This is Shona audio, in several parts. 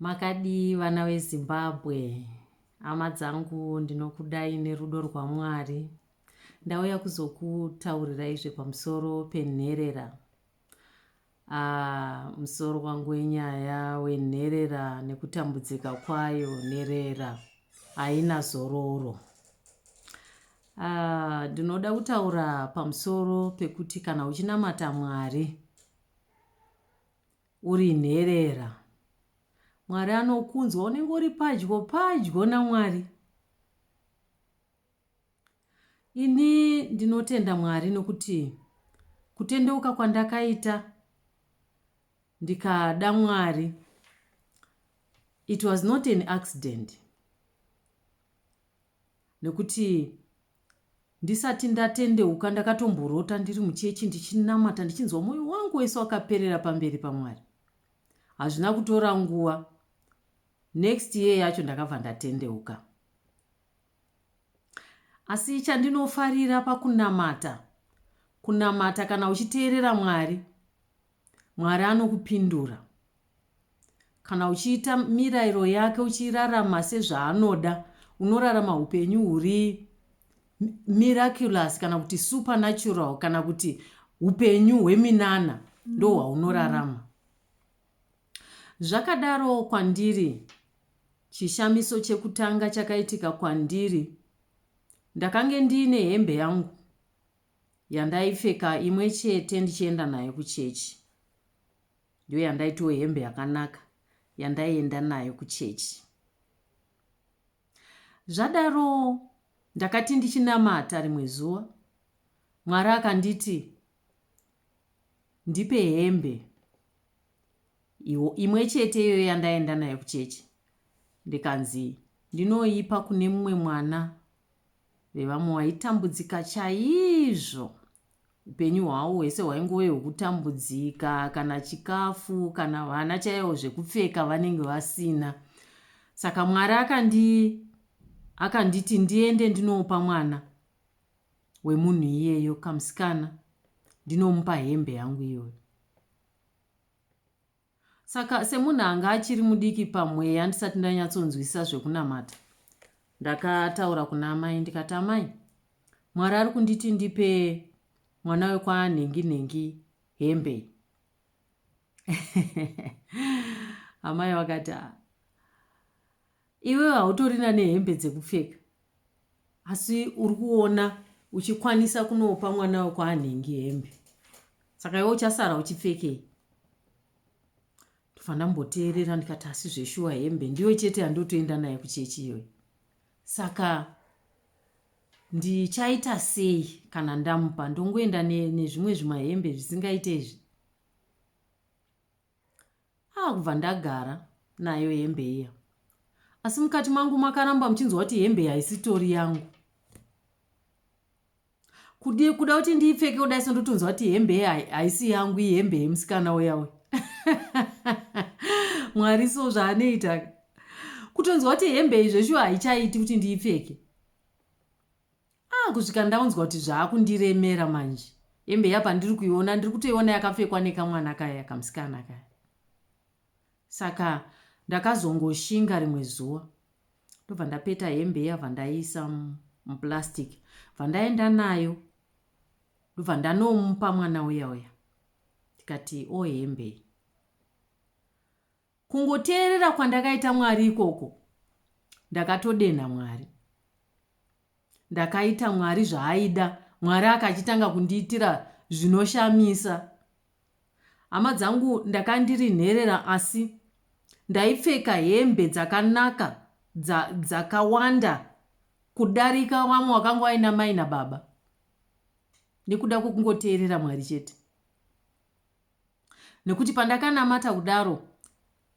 Makadii vana veZimbabwe? Hama dzangu ndinokudai nerudo rwaMwari. Ndauya kuzokutaurirai zvepamusoro penherera. Ah, musoro wangu wenyaya wenherera nekutambudzika kwayo nherera haina zororo. Ah, ndinoda kutaura pamusoro pekuti kana uchinamata Mwari uri nherera. Mwari anokunzwa unenge uri padyo padyo naMwari. Ini ndinotenda Mwari nokuti kutendeuka kwandakaita ndikada Mwari it was not an accident. nekuti ndisati ndatendeuka ndakatomborota ndiri muchechi ndichinamata ndichinzwa mwoyo wangu wese wakaperera pamberi pamwari hazvina kutora nguva next year yacho ndakabva ndatendeuka asi chandinofarira pakunamata kunamata kana uchiteerera mwari Mwari anokupindura. Kana uchiita mirayiro yake uchirarama sezvaanoda, unorarama hupenyu huri miraculous kana kuti supernatural kana kuti hupenyu hweminana ndo hwaunorarama. Zvakadaro kwandiri chishamiso chekutanga chakaitika kwandiri ndakange ndiine hembe yangu Yandaipfeka imwe chete ndichienda nayo kuchechi. Ndiyo yandaitiwo hembe yakanaka yandaienda nayo kuchechi. Zvadaro ndakati ndichinamata rimwe zuva, Mwari akanditi ndipe hembe iwo imwe chete iyoyo yandaenda nayo kuchechi ndikanzi ndinoipa kune mumwe mwana vevamwe waitambudzika chaizvo upenyu hwawo hwese hwaingove hwekutambudzika kana chikafu kana vana chaivo zvekupfeka vanenge vasina saka mwari akandi akanditi ndiende ndinopa mwana wemunhu iyeyo kamusikana ndinomupa hembe yangu iyoyo Saka semunhu anga achiri mudiki pamweya ndisati ndanyatsonzwisisa zvekunamata ndakataura kuna amai ndikati amai mwari ari kunditi ndipe mwana wekwanhingi nhingi hembe amai vakati Iwewe hautorina nehembe dzekupfeka asi uri kuona uchikwanisa kunopa mwana wekwaanhingi hembe saka iwe uchasara uchipfekei ndobva ndamboteerera ndikati asi zveshuwa hembe ndiyo chete yandotoenda naye kuchechi iyoyo saka ndichaita sei kana ndamupa ndongoenda nezvimwe zvimahembe zvisingaite izvi Ah kubva ndagara nayo hembe iya. Asi mukati mangu makaramba muchinzwa kuti hembe haisitori yangu. Kudi kuda kuti ndiipfeke kudai so ndotonzwa kuti hembe iya haisi yangu iyi hembe yemusikana uya uya. Mwari so zvaanoita. Kutonzwa kuti hembe iyi zveshuwa haichaiti kuti ndiipfeke. Ah kusvika ndaunzwa kuti zvaakundiremera manje. Hembe iya pandiri kuiona ndiri kutoiona yakapfekwa nekamwana kaya kamsikana kaya. Saka ndakazongoshinga rimwe zuva ndobva ndapeta hembe iya bvandaiisa muplastic bvandaenda nayo ndobva ndanomupa mwana uya uya tikati o oh, hembe iyi Kungoteerera kwandakaita Mwari ikoko ndakatodenha Mwari. Ndakaita Mwari zvaaida Mwari akachitanga kundiitira zvinoshamisa. Hama dzangu ndakandiri nherera asi ndaipfeka hembe dzakanaka dza, dzakawanda kudarika vamwe wakanga waina mai nababa nekuda kwekungoteerera Mwari chete. nekuti pandakanamata kudaro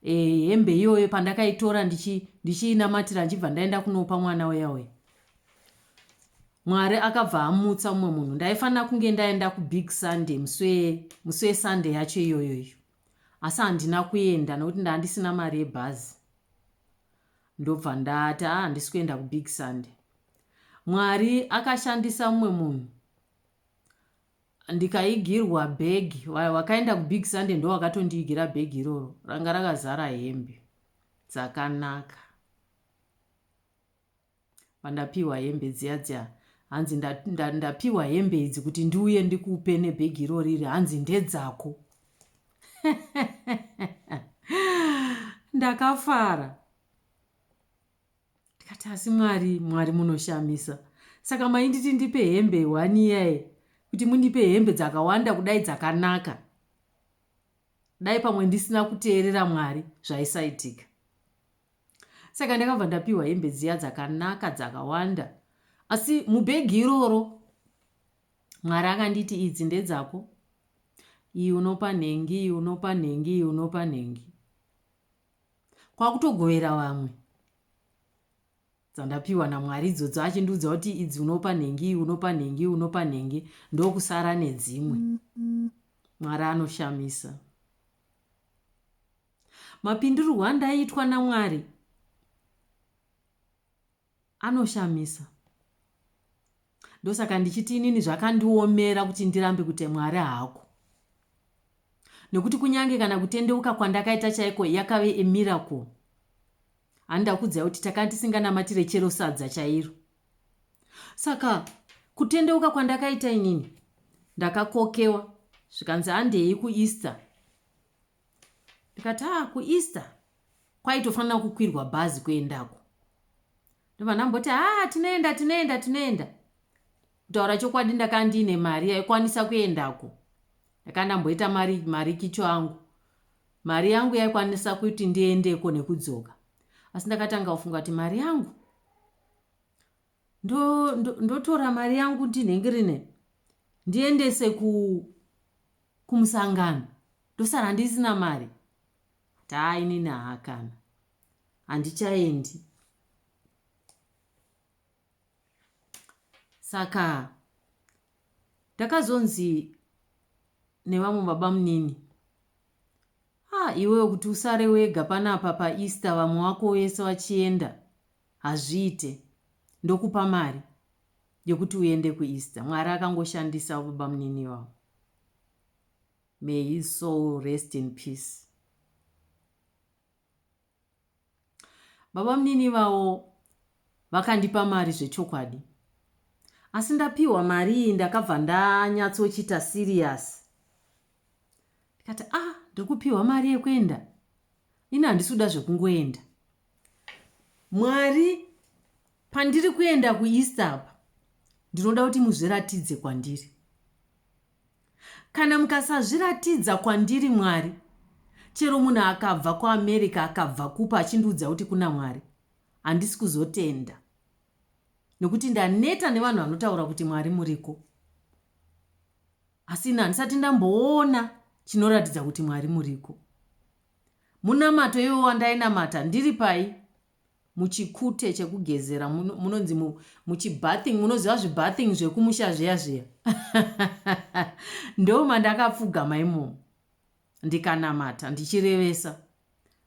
eh, hembe iyoyo pandakaitora ndichiinamatira ndichi ndichibva ndaenda kunopa mwana uya uya mwari akabva amutsa mumwe munhu ndaifanira kunge ndaenda kubig sunday muswe muswe sunday yacho iyoyo iyo asi handina kuenda nokuti ndandisina mari yebhazi ndobva ndati a ah, handisi kuenda kubig sunday mwari akashandisa mumwe munhu ndikaigirwa bag vaya vakaenda kubig sunday ndo vakatondiigira bag iroro ranga rakazara hembe dzakanaka pandapiwa hembe dziya dziya hanzi ndapiwa hembe idzi kuti ndiuye ndikupe nebhegi iroro iri hanzi ndedzako ndakafara ndikati asi mwari mwari munoshamisa saka mainditi ndipe hembe one year kuti mundipe hembe dzakawanda kudai dzakanaka dai pamwe ndisina kuteerera mwari zvaisaitika saka ndakabva ndapiwa hembe dziya dzakanaka dzakawanda asi mubhegi iroro mwari akanditi idzi ndedzako iyi unopa nhengi iyi unopa nhengi iyi unopa nhengi kwakutogovera vamwe dzandapiwa namwari idzodzo achindiudza kuti idzi unopa nhengi unopa nhengi unopa nhengi ndokusara nedzimwe mwari anoshamisa mapindurirwo andaitwa namwari Anoshamisa. Ndosaka ndichiti inini zvakandiomera kuti ndirambe kuti Mwari haako. Nekuti kunyange kana kutendeuka kwandakaita chaiko yakave a miracle. Handa kudzai kuti takanga tisinganamatire chero sadza chairo. Saka kutendeuka kwandakaita inini ndakakokewa zvikanzi handei kuEaster ndikati haa kueaster kwaitofanira kukwirwa bhazi kuendako ndobva ndamboti haa tinoenda tinoenda tinoenda kutaura chokwadi ndakanga ndiine mari yaikwanisa kuendako ndakanga ndamboita mari mari kicho angu mari yangu yaikwanisa kuti ndiendeko nekudzoka asi ndakatanga kufunga kuti mari yangu ndo, ndo, ndotora mari yangu ndinhengirine ndiendese ku kumusangano ndosara ndisina mari taa inini haakana handichaendi saka ndakazonzi nevamwe baba munini ha ah, iwewe kuti usare wega panapa paeaster vamwe wako wese vachienda Hazviite. Ndokupa mari yekuti uende ku Easter. Mwari akangoshandisa babamunini ivavo. May his soul rest in peace. Babamunini ivavo vakandipa mari zvechokwadi. Asi ndapiwa mari iyi ndakabva ndanyatsochita serious ndikati ah ndiri kupiwa mari yekuenda ini handisi kuda zvekungoenda Mwari pandiri kuenda kuEaster apa ndinoda kuti muzviratidze kwandiri. Kana mukasazviratidza kwandiri Mwari, chero munhu akabva kuAmerica akabva kupa achindiudza kuti kuna Mwari, handisi kuzotenda. Nokuti ndaneta nevanhu vanotaura kuti Mwari muriko. Asi ini handisati ndamboona chinoratidza kuti Mwari muriko. Munamato iwowo wandainamata ndiri pai? Muchikute chekugezera munonzi mu, muchibathing munoziva zvibathing zvekumusha zviya zviya ndoma ndakapfugama imomo ndikanamata ndichirevesa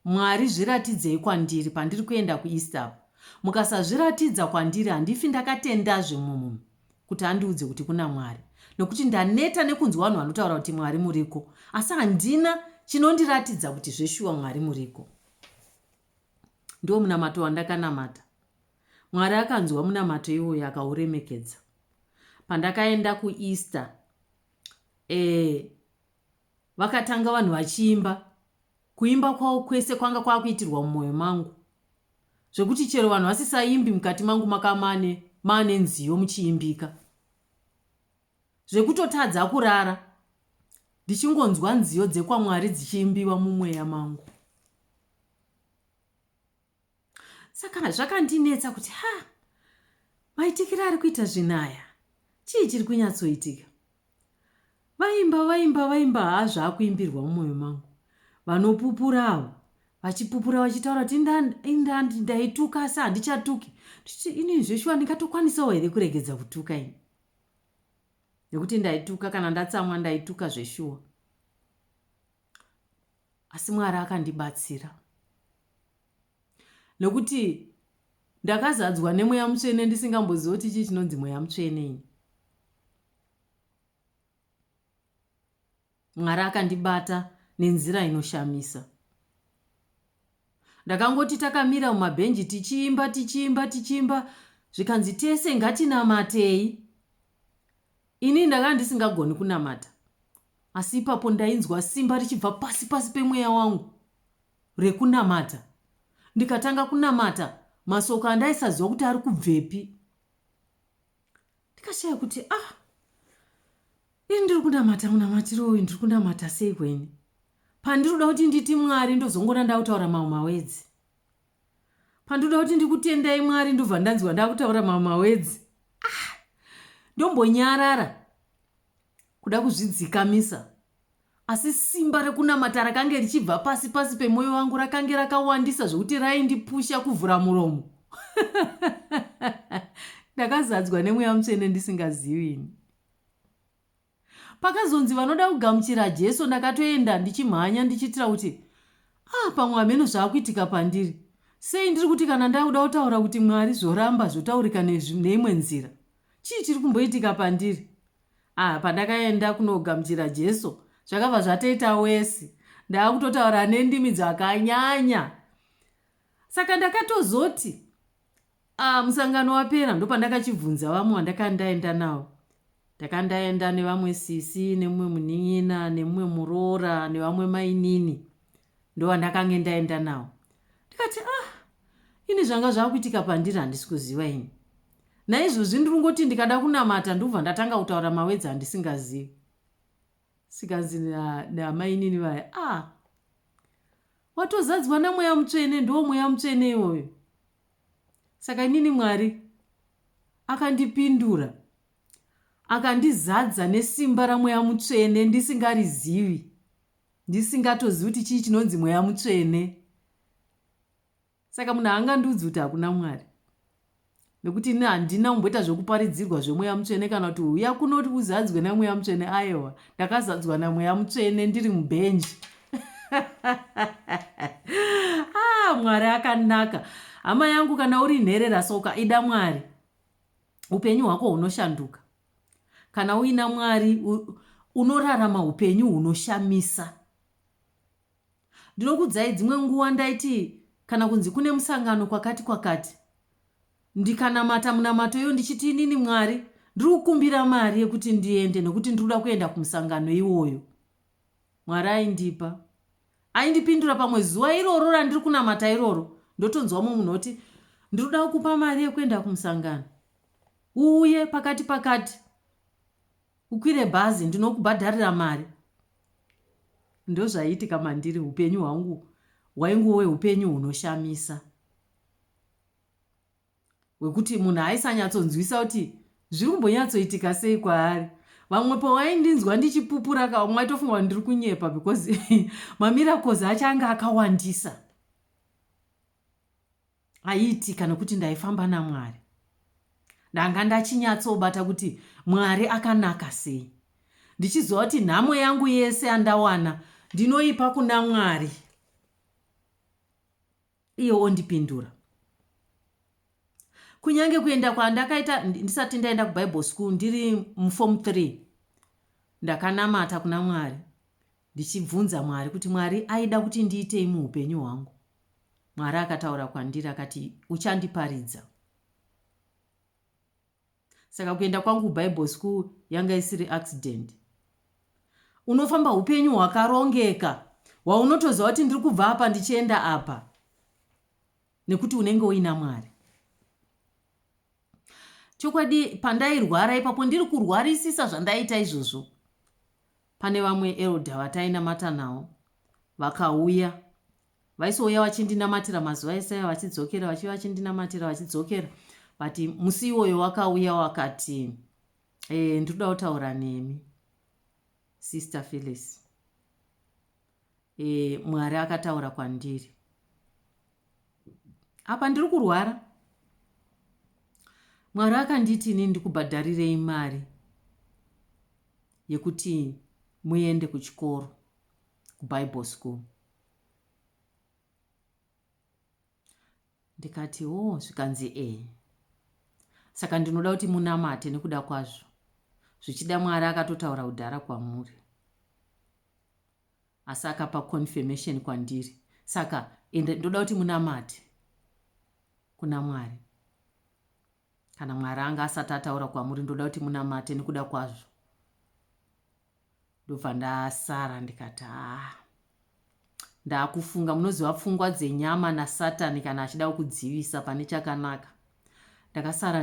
Mwari zviratidzei kwandiri pandiri kuenda kuEaster apo mukasazviratidza kwandiri handifi ndakatendazve mumwe munhu kuti andiudze kuti kuna Mwari nokuti ndaneta nekunzwa vanhu vanotaura kuti Mwari muriko asi handina chinondiratidza kuti zveshuwa Mwari muriko. Ndiwo munamato wandakanamata. Mwari akanzwa munamato iwoyo akauremekedza. Pandakaenda kuEaster, eh, Vakatanga vanhu vachiimba, kuimba kwavo kwese kwanga kwakuitirwa mumoyo mangu zvekuti chero vanhu vasisaimbi mukati mangu makava maane maane nziyo muchiimbika zvekutotadza kurara ndichingonzwa nziyo dzekwaMwari dzichiimbiwa mumweya mangu. saka zvakandinetsa kuti ha maitikiro ari kuita zvinhu aya chii chiri kunyatsoitika vaimba vaimba vaimba haa zvaakuimbirwa mumwoyo mangu vanopupura avo vachipupura vachitaura kuti indandi ndaituka asi handichatuki ndichiti inini zveshuwa ndingatokwanisawo here kuregedza kutuka ini nekuti ndaituka kana ndatsamwa ndaituka zveshuwa asi mwari akandibatsira nokuti ndakazadzwa nemweya mutsvene ndisingambozivi kuti chii chinonzi mweya mutsvene ini mwari akandibata nenzira inoshamisa ndakangoti takamira mumabhenji tichiimba tichiimba tichiimba zvikanzi tese ngatinamatei Ini ndanga ndisingagoni kunamata, asi ipapo ndainzwa simba richibva pasi pasi pemweya wangu rekunamata. Ndikatanga kunamata masoko andaisaziva kuti ari kubvepi. Ndikashaya kuti ah, ini ndiri kunamata munamatiro uyu ndiri kunamata sei kweni? Pandiri kuda kuti nditi Mwari ndozongona ndakutaura mamwe mawedzi. pandoda kuti ndikutendai mwari ndobva ndanzwa ndakutaura mamawedzi ah, ndombonyarara kuda kuzvidzikamisa asi simba rekunamata rakange richibva pasi pasi pemwoyo wangu rakange rakawandisa zvekuti raindipusha kuvhura muromo ndakazadzwa nemweya mutsvene ndisingazivi ini Pakazonzi vanoda kugamuchira Jesu ndakatoenda ndichimhanya ndichiitira kuti ah pamwe hameno zvakuitika pandiri. Sei ndiri kuti kana ndakuda kutaura kuti Mwari zvoramba zvotaurika neimwe nzira. Chii chiri kumboitika pandiri? Ah pandakaenda kunogamuchira Jesu zvakabva zvatoita wesi. Ndakutotaura nendimi dzakanyanya. Saka ndakatozoti Ah, musangano wapera ndopandakachibvunza vamwe vandaka ndaenda navo. Ndaka ndaenda nevamwe sisi, nemumwe munin'ina, nemumwe muroora, nevamwe mainini. Ndovandakange ndaenda navo. Ndikati, ah, ini zvanga zvakuitika pandiri handisi kuziva ini. Naizvozvi ndiri kungoti ndikada kunamata ndobva ndatanga kutaura mawedzi andisingazivi. Sikanzi namainini vaya, ah, watozadzwa namweya mutsvene, ndoo mweya mutsvene iwoyo. Saka inini Mwari akandipindura, akandizadza nesimba raMweya Mutsvene ndisingarizivi, ndisingatozivi kuti chii chinonzi Mweya Mutsvene. Saka munhu haangandiudzi kuti hakuna Mwari nekuti ini handina kumboita zvekuparidzirwa zvemweya mutsvene kana kuti uya kunoti uzadzwe nemweya mutsvene ayewa ndakazadzwa namweya mutsvene ndiri mubhenji ah, mwari akanaka hama yangu kana uri nherera soka ida mwari upenyu hwako hunoshanduka kana uina mwari unorarama upenyu hunoshamisa ndinokudzai dzimwe nguva ndaiti kana kunzi kune musangano kwakati kwakati ndikanamata munamato iyo ndichiti inini mwari ndiri kukumbira mari yekuti ndiende nokuti ndiri kuda kuenda kumusangano iwoyo Mwari aindipa. Aindipindura pamwe zuva iroro randiri kunamata iroro ndotonzwa mumwe munhu oti ndiri kuda kukupa mari yekuenda kumusangano uuye pakati pakati ukwire bhazi ndinokubhadharira mari ndozvaiitika mandiri upenyu hwangu hwainguwe upenyu hunoshamisa wekuti munhu aisanyatsonzwisa kuti zviri kumbonyatsoitika sei kwaari vamwe pawaindinzwa ndichipupura ka umwe aitofunga kuti ndiri kunyepa because mamiracles acho ange akawandisa aiitika nokuti ndaifamba namwari ndanga ndachinyatsobata kuti mwari akanaka sei ndichiziva kuti nhamo yangu yese yandawana ndinoipa kuna mwari iye ondipindura kunyange kuenda kwandakaita ndisati ndaenda kubible school ndiri muform three ndakanamata kuna mwari ndichibvunza mwari kuti mwari aida kuti ndiitei muupenyu hwangu mwari akataura kwandiri akati uchandiparidza saka kuenda kwangu kubible school yanga isiri accident unofamba upenyu hwakarongeka hwaunotoziva kuti ndiri kubva apa ndichienda apa nekuti unenge uina mwari chokwadi pandairwara ipapo ndiri kurwarisisa zvandaita izvozvo pane vamwe elda vatainamata nawo vakauya Vaisouya vachindinamatira mazuva ese aya vachidzokera vachiuya vachindinamatira vachidzokera but musi iwoyo wakauya wakati e, ndinoda kutaura nemi sister Phyllis e, Mwari akataura kwandiri apa ndiri kurwara Mwari akanditi ini ndikubhadharirei mari yekuti muende kuchikoro kubible school ndikati hoo zvikanzi ee saka ndinoda kuti munamate nekuda kwazvo zvichida mwari akatotaura kudhara kwamuri asi akapa confirmation kwandiri saka ende ndoda kuti munamate kuna mwari Kana Mwari anga asati ataura kwamuri ndoda kuti munamate nekuda kwazvo. Ndobva ndasara ndikati haa ndakufunga munoziva pfungwa dzenyama nasatani kana achida kukudzivisa pane chakanaka ndakasara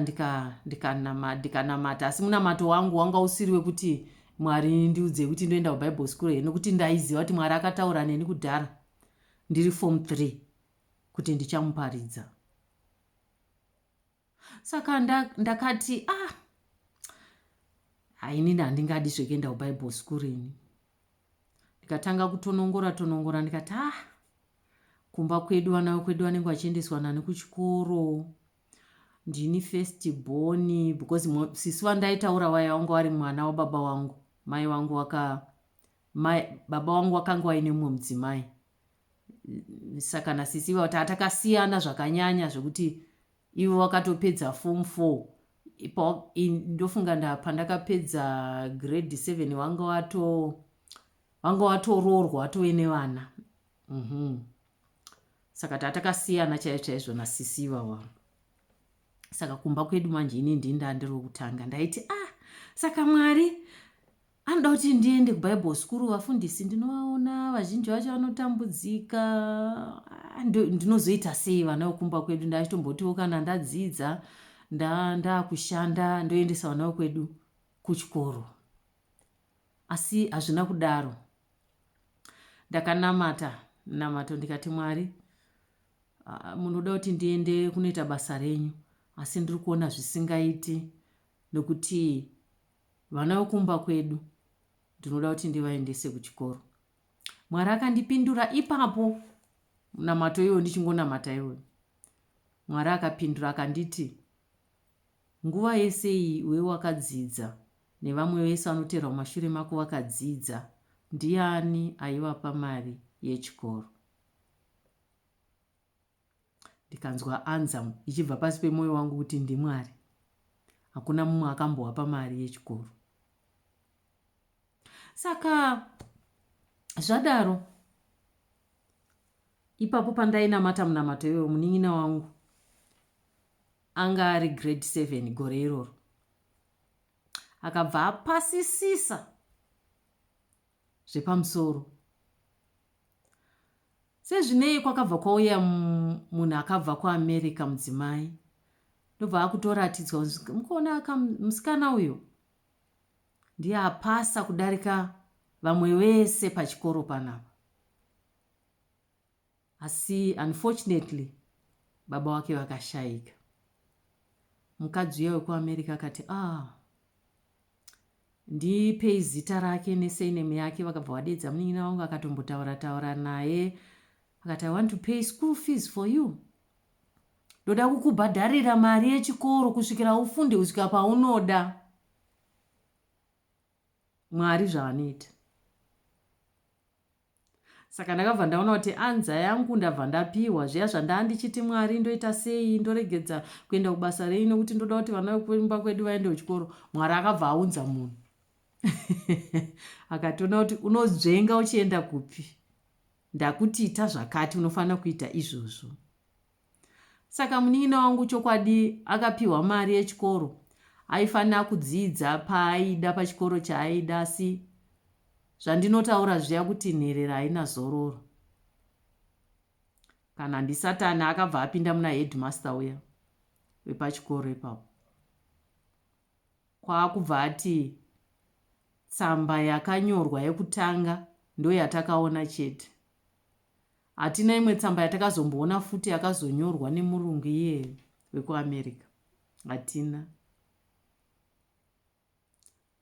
ndikanamata ndika ndika asi munamato wangu wanga usiri wekuti mwari ndiudzei kuti ndoenda kubible school here nokuti ndaiziva kuti mwari akataura neni kudhara ndiri form three kuti ndichamuparidza saka ndakati ah hainini handingadi zvekuenda kubible school ini ndikatanga kutonongora tonongora ndikati ah kumba kwedu vana vekwedu vanenge vachiendeswa nani kuchikoro ndini first born because sisi vandaitaura vaya vanga vari mwana wababa wangu mai wangu waka mai baba wangu wakanga waine mumwe mudzimai saka nasisi vati atakasiyana zvakanyanya zvekuti ivo vakatopedza form four ndofunga nda pandakapedza grade seven wanga wato wanga watoroorwa watove nevana mm -hmm. saka tatakasiyana chaizvo chaizvo nasisi ivava saka kumba kwedu manje ini ndinda ndiri wekutanga ndaiti ah saka mwari Anoda kuti ndiende kuBible school vafundisi ndinovaona vazhinji vacho vanotambudzika ah, ndinozoita sei vana vokumba kwedu ndachitombotiwo kana ndadzidza ndakushanda nda ndoendesa vana vokwedu kuchikoro asi hazvina kudaro ndakanamata namato ndikati mwari ah, munoda kuti ndiende kunoita basa renyu asi ndiri kuona zvisingaiti nokuti Vana vekumba kwedu ndinoda kuti ndivaendese kuchikoro. Mwari akandipindura ipapo munamato iwoyo ndichingonamata iwoyo. Mwari akapindura akanditi nguva yese iyi iwe wakadzidza nevamwe vese vanoteerwa mumashure mako vakadzidza ndiani aivapa mari yechikoro. ndikanzwa anzamu ichibva pasi pemoyo wangu kuti ndimwari hakuna mumwe akambohapa mari yechikoro saka zvadaro ipapo pandainamata munamato iyoyo munin'ina wangu anga ari grade seven gore iroro akabva apasisisa zvepamusoro Sezvinei kwakabva kwauya munhu akabva kuAmerica mudzimai ndobva akutoratidzwa mukuona aka musikana uyo ndiye apasa kudarika vamwe vese pachikoro panapa asi unfortunately baba wake vakashayika mukadzi uya wekuamerica akati ah ndipei zita rake nesurname yake vakabva vadeedza munin'ina wangu akatombotaura taura naye akati i want to pay school fees for you ndoda kukubhadharira mari yechikoro kusvikira ufunde kusvika paunoda mwari zvaanoita Saka ndakabva ndaona kuti anza yangu ndabva ndapiwa zviya zvandaa ndichiti Mwari ndoita sei ndoregedza kuenda kubasa rei nekuti ndoda kuti vana vekumba kwedu vaende kuchikoro. Mwari akabva aunza munhu akatoona kuti unodzvenga uchienda kupi ndakuti ita zvakati unofanira kuita izvozvo Saka munin'ina wangu chokwadi akapiwa mari yechikoro aifanira kudzidza paaida pachikoro chaaida asi zvandinotaura zviya kuti nherera haina zororo kana ndisatani akabva apinda muna headmaster uya wepachikoro ipapo kwaakubva ati tsamba yakanyorwa yekutanga ndoyatakaona chete Hatina imwe tsamba yatakazomboona futi yakazonyorwa nemurungu iye wekuAmerica. Hatina.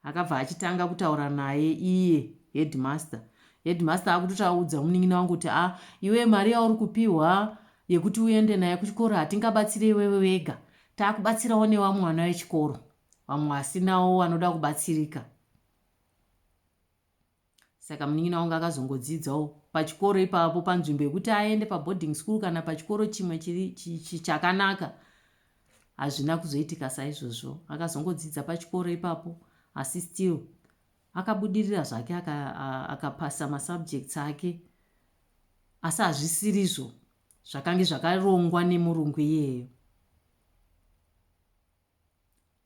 Akabva achitanga kutaura naye iye headmaster. Headmaster akutotaudza munin'ina wangu kuti ah iwe mari yauri kupihwa yekuti uende naye kuchikoro hatingabatsire iwewe wega. Takubatsirawo nevamwe vana vechikoro. Vamwe vasinawo vanoda kubatsirika. saka munin'ina wangu akazongodzidzawo pachikoro ipapo panzvimbo yekuti aende paboarding school kana pachikoro chimwe chakanaka hazvina kuzoitika saizvozvo akazongodzidza pachikoro ipapo asi still akabudirira zvake akapasa aka masubjects ake asi hazvisirizvo zvakange zvakarongwa nemurungu iyeyo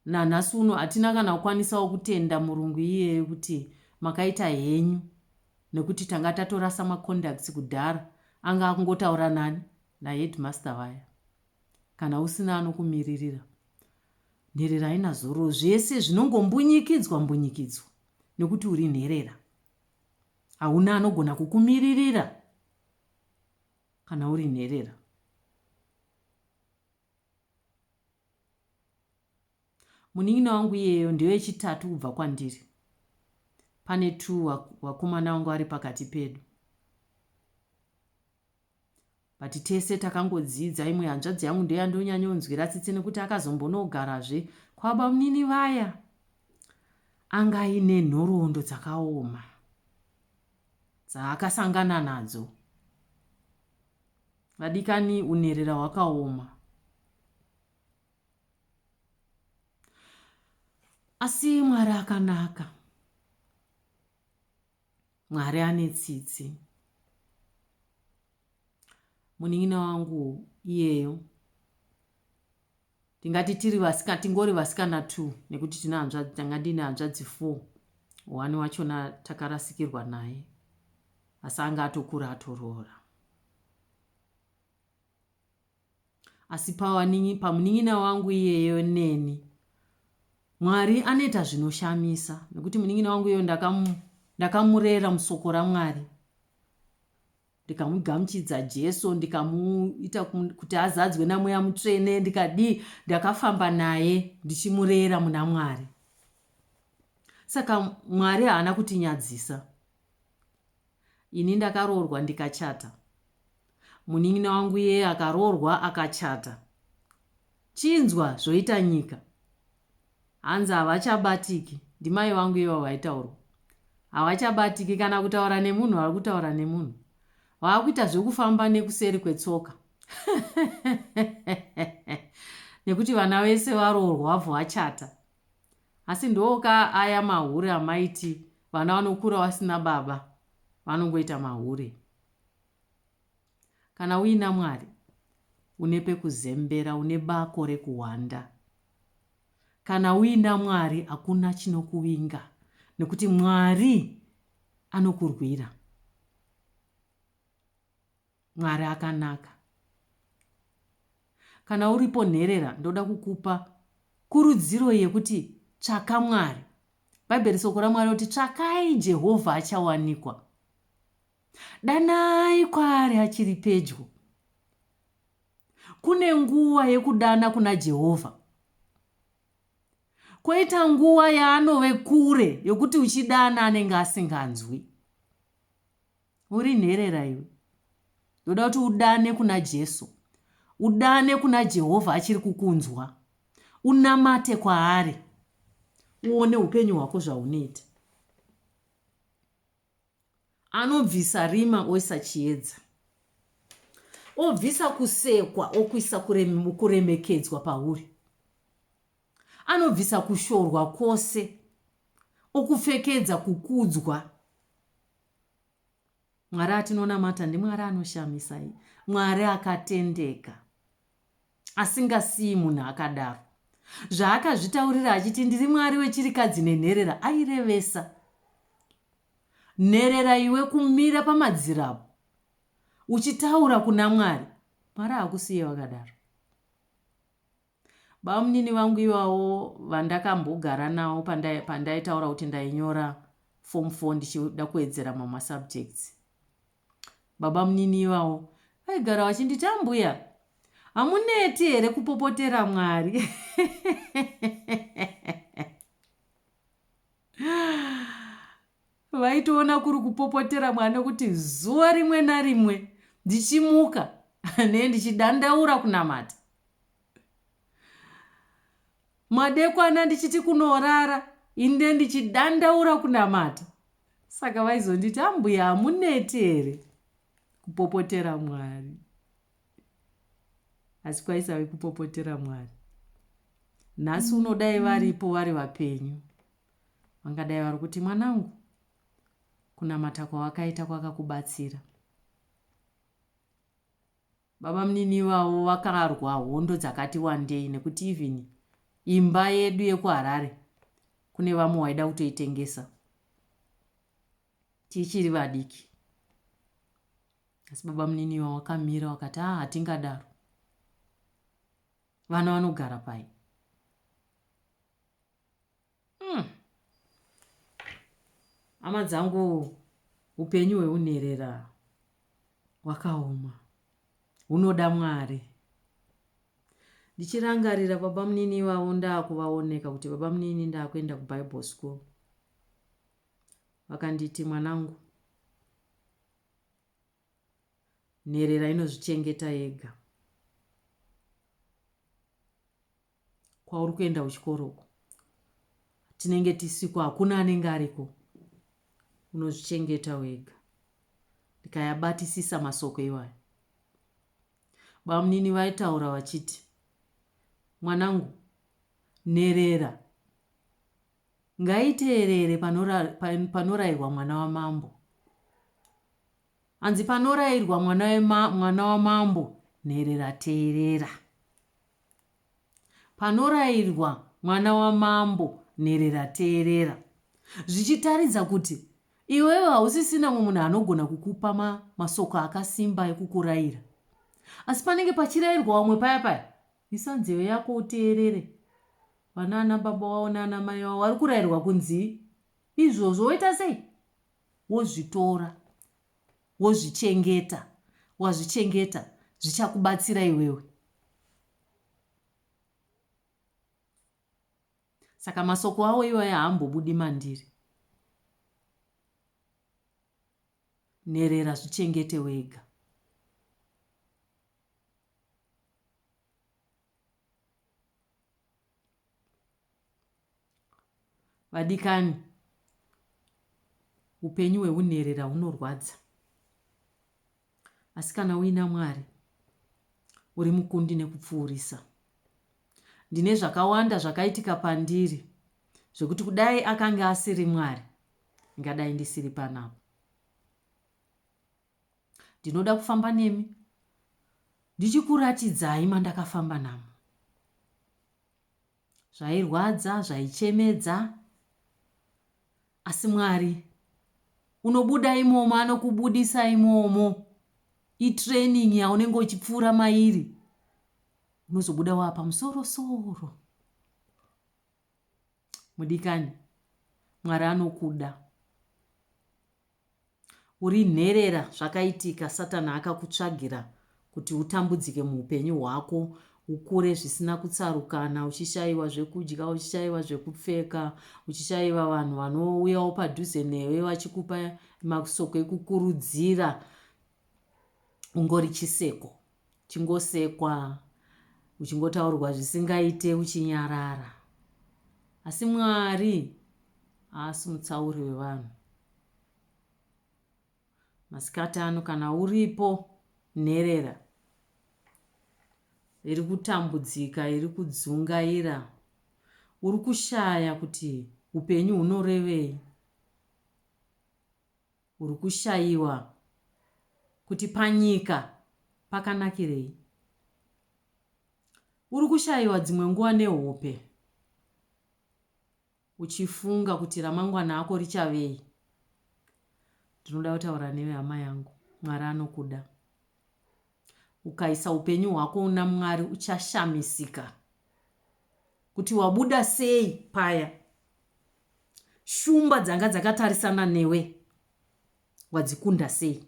Nanhasi uno hatina kana kukwanisawo kutenda murungu iyeye kuti makaita henyu nekuti tanga tatorasa macontacts kudhara anga akungotaura nani naheadmaster vaya. Kana usina anokumiririra nherera haina zororo zvese zvinongombunyikidzwa mbunyikidzwa nekuti uri nherera. Hauna anogona kukumiririra kana uri nherera. Munin'ina wangu iyeyo ndewechitatu kubva kwandiri. Pane two vakomana vanga vari pakati pedu. But tese takangodzidza, imwe hanzvadzi yangu ndiyo yandonyanyonzwira tsitsi nekuti akazombonogarazve kwabamunini vaya anga aine nhoroondo dzakaoma dzaakasangana nadzo. Vadikani unherera hwakaoma. Asi Mwari akanaka. Mwari ane tsitsi. Munin'ina wangu iyeyo Tingati tiri vasika, tingori vasikana two nekuti tine hanzvadzi, tanga ndine hanzvadzi four. One wachona takarasikirwa naye asi anga atokura atoroora. Asi pawaningi, pamunin'ina wangu iyeyo neni Mwari anoita zvinoshamisa nekuti munin'ina wangu iyeyo ndakamurera musoko raMwari. ndikamugamuchidza jesu ndikamuita kuti azadzwe namweya mutsvene ndikadii ndakafamba naye ndichimurera muna mwari saka mwari haana kutinyadzisa ini ndakaroorwa ndikachata munin'ina wangu iye akaroorwa akachata chinzwa zvoita nyika Hanzi havachabatiki ndimai vangu ivavo vaitaurwa havachabatiki kana kutaura nemunhu vari kutaura nemunhu vaakuita zvekufamba nekuseri kwetsoka nekuti vana vese varoorwa bvo vachata asi ndoka aya mahure amaiti vana vanokura vasina baba vanongoita mahure Kana uina Mwari, une pekuzembera, une bako rekuhwanda. Kana uina Mwari, hakuna chinokuvinga nekuti Mwari anokurwira. Mwari akanaka. Kana uripo nherera, ndoda kukupa kurudziro yekuti tsvaka Mwari. Bhaibheri soko raMwari kuti tsvakai Jehovha achawanikwa. Danai kwaari achiri pedyo. Kune nguva yekudana kuna Jehovha, kwoita nguva yaanove kure yokuti uchidana anenge asinganzwi. Uri nherera iwe, ndoda kuti udane kuna Jesu, udane kuna Jehovha achiri kukunzwa, unamate kwaari, uone upenyu hwako zvaunoita. Anobvisa rima oisa chiedza. Obvisa kusekwa okuisa kuremekedzwa pauri. Anobvisa kushorwa kwose okupfekedza kukudzwa. Mwari atinonamata ndiMwari anoshamisa, Mwari akatendeka. asingasiyi munhu akadaro. Zvaakazvitaurira achiti ndiri mwari wechirikadzi nenherera airevesa nherera iwe kumira pamadziro apo uchitaura kuna mwari mwari hakusiye wakadaro bamunini vangu ivawo vandakambogara nawo pandaitaura kuti ndainyora form four ndichida kuwedzera mamwe masubjects Babamunini ivavo vaigara vachinditi ambuya hamuneti here kupopotera mwari vaitoona kuri kupopotera mwari nekuti zuva rimwe narimwe ndichimuka ne ndichidandaura kunamata madekwana ndichiti kunorara inde ndichidandaura kunamata saka vaizonditi ambuya hamuneti here kupopotera mwari asi kwaisave kupopotera mwari nhasi unodai varipo vari vapenyu vangadai vari kuti mwanangu kunamata kwawakaita kwakakubatsira Babamunini ivavo vakarwa hondo dzakati wandei nekuti even imba yedu yekuHarare kune vamwe waida kutoitengesa tichiri vadiki. Asi babamunini ivavo vakamira vakati haa hatingadaro. Vana vanogara pai? Hmm. Hama dzangu, upenyu hweunherera hwakaoma, hunoda Mwari. Ndichirangarira baba munini ivavo ndakuvaoneka kuti baba munini ndakuenda kuBible school. Vakanditi mwanangu, nherera inozvichengeta yega. kwauri kuenda kuchikoro uko tinenge tisiko hakuna anenge ariko unozvichengeta wega ndikayabatisisa masoko iwayo bamunini vaitaura vachiti mwanangu nherera ngaiteerere panorairwa mwana wamambo hanzi panorairwa mwana wamambo nherera teerera Panorairwa mwana wamambo nherera teerera. Zvichitaridza kuti iwewe hausisina mumwe munhu anogona kukupa ma, masoko akasimba ekukuraira. Asi panenge pachirairwa vamwe paya paya, isa nzeve yako uteerere. Vana ana baba wavo naana mai wavo vari kurairwa kunzii? Izvozvo woita sei? Wozvitora. wozvichengeta wazvichengeta zvichakubatsira iwewe. Saka masoko awo iwayo haambobudi mandiri. Nherera zvichengete wega. Vadikani, upenyu hwehunherera hunorwadza. Asi kana uina Mwari, uri mukundi nekupfuurisa. Ndine zvakawanda zvakaitika pandiri zvekuti kudai akange asiri Mwari, ngadai ndisiri panapa. Ndinoda kufamba nemi ndichikuratidzai mandakafamba namo. Zvairwadza, zvaichemedza, asi Mwari unobuda imomo, anokubudisa imomo. Itraining yaunenge uchipfuura mairi, unozobuda waa pamusoro soro. mudikani mwari anokuda uri nherera zvakaitika satani akakutsvagira kuti utambudzike muupenyu hwako ukure zvisina kutsarukana uchishayiwa zvekudya uchishayiwa zvekupfeka uchishayiwa vanhu vanouyawo padhuze newe vachikupa masoko ekukurudzira ungori chiseko Uchingosekwa, uchingotaurwa zvisingaite uchinyarara. Asi Mwari haasi mutsauri wevanhu. Masikati ano kana uripo nherera iri kutambudzika iri kudzungaira uri kushaya kuti upenyu hunorevei Uri kushaiwa kuti panyika pakanakirei. Uri kushaiwa dzimwe nguva nehope uchifunga kuti ramangwana ako richavei. Ndinoda kutaura newe hama yangu, Mwari anokuda. Ukaisa upenyu hwako una Mwari uchashamisika kuti wabuda sei paya. Shumba dzanga dzakatarisana newe wadzikunda sei?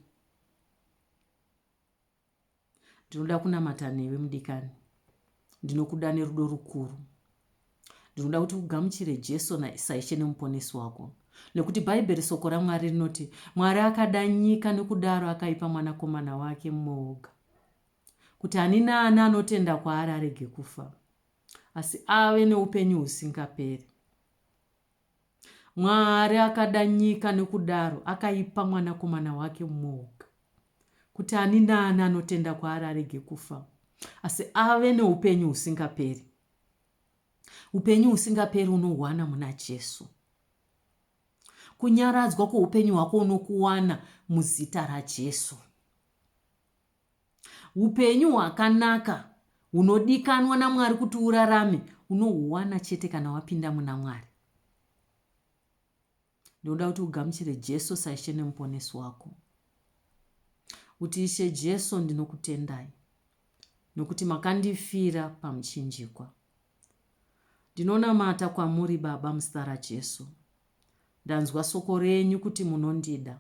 Ndinoda kunamata newe mudikani. Ndinokuda nerudo rukuru. Ndinoda kuti ugamuchire Jesu saishe nemuponesi wako. Nekuti Bhaibheri soko raMwari rinoti, Mwari akada nyika nokudaro akaipa mwanakomana wake mumwe woga. Kuti ani naani anotenda kwaari arege kufa. asi ave neupenyu husingaperi. Mwari akada nyika nokudaro akaipa Mwanakomana wake mumwe woga, kuti ani naani anotenda kwaari arege kufa, asi ave neupenyu husingaperi. Upenyu husingaperi unohwana muna Jesu. Kunyaradzwa kweupenyu hwako unokuwana muzita raJesu. Upenyu hwakanaka hunodikanwa naMwari kuti urarame unohuwana chete kana wapinda muna Mwari. Ndinoda kuti ugamuchire Jesu saishe nemuponesi wako. Kuti Ishe Jesu ndinokutendai nokuti makandifira pamuchinjikwa. Ndinonamata kwamuri Baba muzita raJesu. Ndanzwa soko renyu kuti munondida.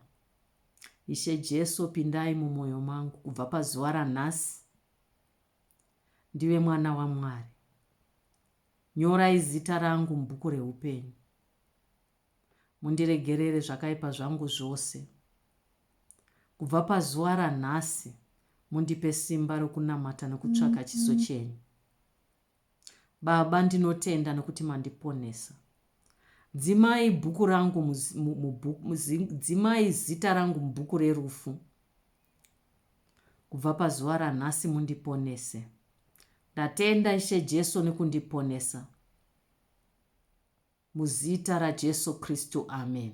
Ishe Jesu pindai mumoyo mangu kubva pazuva ranhasi ndive mwana waMwari. Nyorai zita rangu mubhuku reupenyu. Mundiregerere zvakaipa zvangu zvose. Kubva pazuva ranhasi mundipe simba rokunamata nokutsvaka chiso chenyu. Baba ndinotenda nokuti mandiponesa. Dzimai bhuku rangu dzimai zita rangu mubhuku rerufu. Kubva pazuva ranhasi mundiponese. Ndatenda Ishe Jesu nekundiponesa. Muzita raJesu Kristu. Amen.